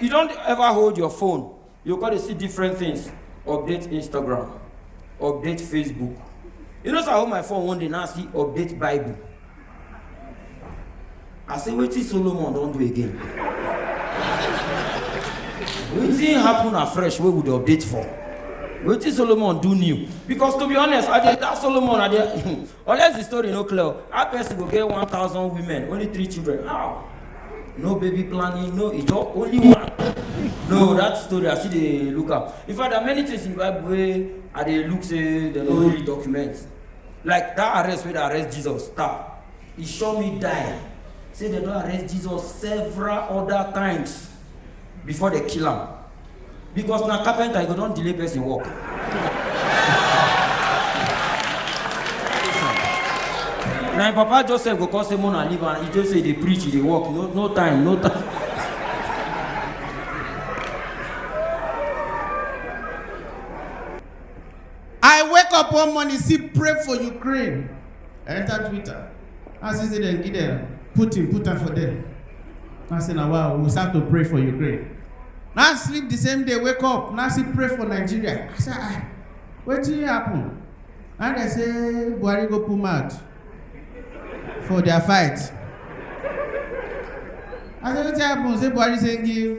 you don't ever hold your phone you go to see different things update instagram update facebook you know so i hold my phone one day now see update bible i say wetin solomon don do again wetin happen afresh wey we dey update for wetin solomon do new because to be honest i dey that solomon i dey Unless the story no clear, how person go get 1000 women, only three children? How? No baby planning, no ijo, only one. No, that story I see dey look am. In fact, there are many things in the Bible wey I dey look say dem no really document. Like that arrest wey dey arrest Jesus, star, e sure me die. Say dem don arrest Jesus several other times before dem kill am. because na carpenter you go don delay person work. na im papa joseph go come say mona leave am he just say dey preach he dey work no no time no time. I wake up one morning, see, pray for Ukraine. enter twitter i see say dem give dem putin put am for there i say na wow we start to pray for ukraine na sleep the same day wake up na still pray for nigeria i say ah wetin happen na dem say buhari go put mouth for their fight i say wetin happen say buhari say give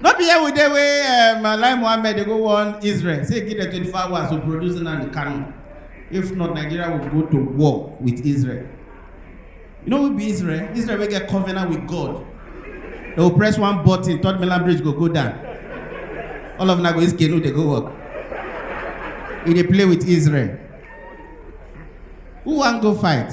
no be here we dey wey um, alai mohammed dey go warn israel say give dem twenty four hours to produce nnamdi kanu if not nigeria will go to war with israel you know who be israel israel wey get covenant with god they go press one button third mainland bridge go go down all of una go use canoe dey go work you dey play with israel who wan go fight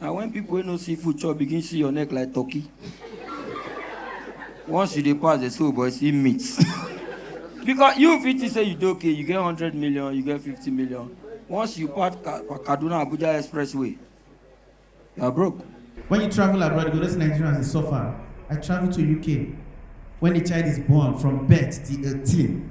na when people wey no see food chop begin see your neck like turkey once you dey pass dey say oh boy see meat because you fit think say you dey okay you get hundred million you get fifty million once you pass Ka- kaduna abuja expressway you are broke. When you travel abroad, you go notice Nigerians dey suffer. I travel to UK. When a child is born from birth till 18,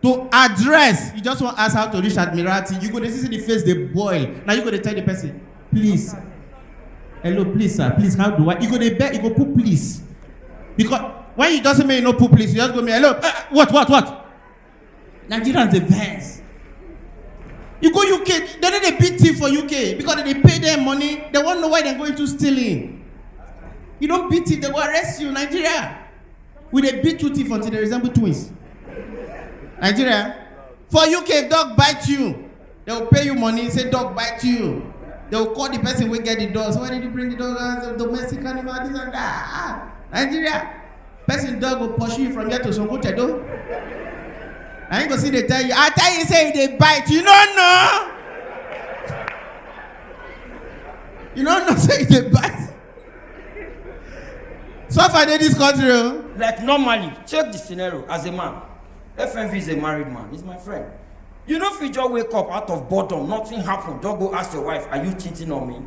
to address you just wan ask how to reach admiralty you go dey see say the face dey boil na you go dey tell the person please hello please sir please how do i you go dey beg you go put please because when you just say make you no put please you just go me hello eh, what what what nigerians dey vex you go uk dem no dey beat thief for uk because dem dey pay dem money dem wan know why dem go into stealing you don beat thief dem go arrest you nigeria we dey beat two teeth until they resemble twins nigeria for uk if dog bite you they go pay you money say dog bite you they go call the person wey get the dog so why did you bring the dog as a domestic animal this and that ah nigeria person dog go pursue you from here to songo tedo na him go still dey tell you i tell you say e dey bite you no know you no know say e dey bite. Suffer dey this country o. Like normally, check the scenario as a man. FMV is a married man, he's my friend. You no fit just wake up out of boredom, nothing happen, just go ask your wife, are you cheating on me?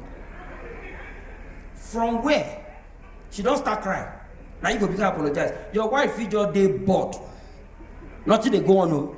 From where? She don start cry. Na you go begin apologize. Your wife fit just dey bored. Nothing dey go on o.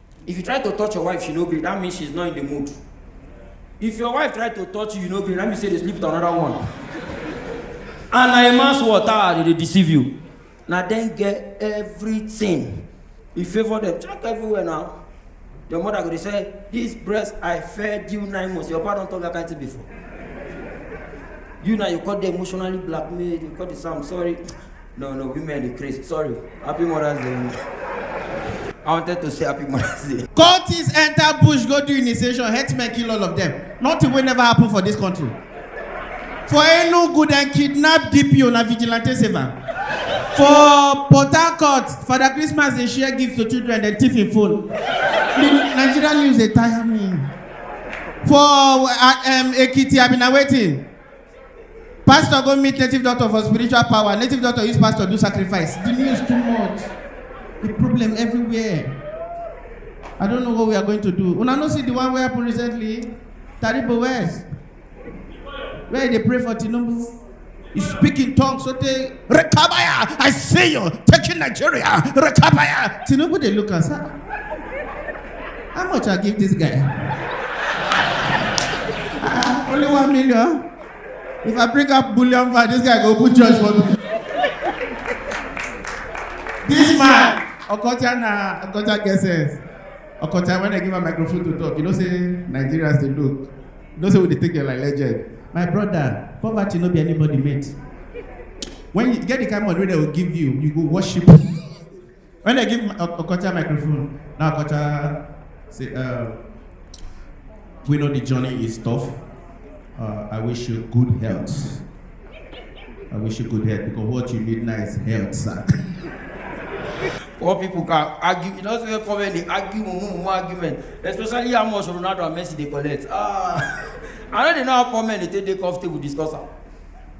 If you try to touch your wife, she no gree. That means she's not in the mood. If your wife try to touch you, you no gree. That means say they sleep with another one. and na a man's water ah, they dey deceive you. Na dem get everything. You favour them. Check everywhere now. Your mother go dey say, this breast I fed you nine months. Your papa don talk that kind thing before. You now you call the emotionally blackmailed. You call the Sam sorry. No, no, women dey craze. Sorry. Happy Mother's Day. I wanted to say Happy Mother's Day. Cultists enter bush go do initiation, headmen kill all of them. Nothing will never happen for this country. For Enugu, dem kidnap DPO na vigilante save am. For Port Harcourt, Father Christmas dey share gifts to children, dem thief im phone. The Nigerian news dey tire me. For uh, um, Ekiti, I bin na wetin? Pastor go meet native doctor for spiritual power. Native doctor use pastor do sacrifice. The news too much. The problem everywhere. I don't know what we are going to do. Una no see the one wey happen recently? Taribo West. Where they pray for Tinubu. You speak in tongues so they Rekabaya, I see you taking Nigeria. Rekabaya. Tinubu, they look and say, "Ah, how much I give this guy? Ah, only one million. If I bring up bullion for this guy, go put judge for me. this man, Okocha na Okocha get sense. Okocha, when I give a microphone to talk, you know say Nigerians they look. You know say we dey take them like legend. My brother, poverty no be anybody mate. When you get the kind of money wey dem go give you, you go worship. When dem give O- Okocha microphone, na Okocha say, uh, we know the journey is tough. Uh, I wish you good health. I wish you good health because what you need now is health, sir. Poor people can argue. You know, so come and they argue, mumu, mumu argument. Especially how much Ronaldo and Messi they collect. Ah, I no dey know how poor men dey take dey comfortable discuss am.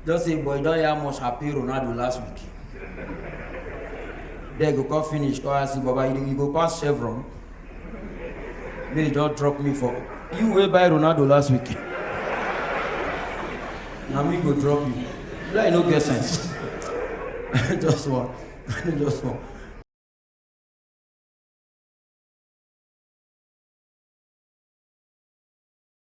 Just say boy don hear much happy Ronaldo last week. Then go come finish come ask you baba you, you go pass chevron. May you just drop me for you wey buy Ronaldo last week. Na me go drop you. Like no get sense. just one. just one.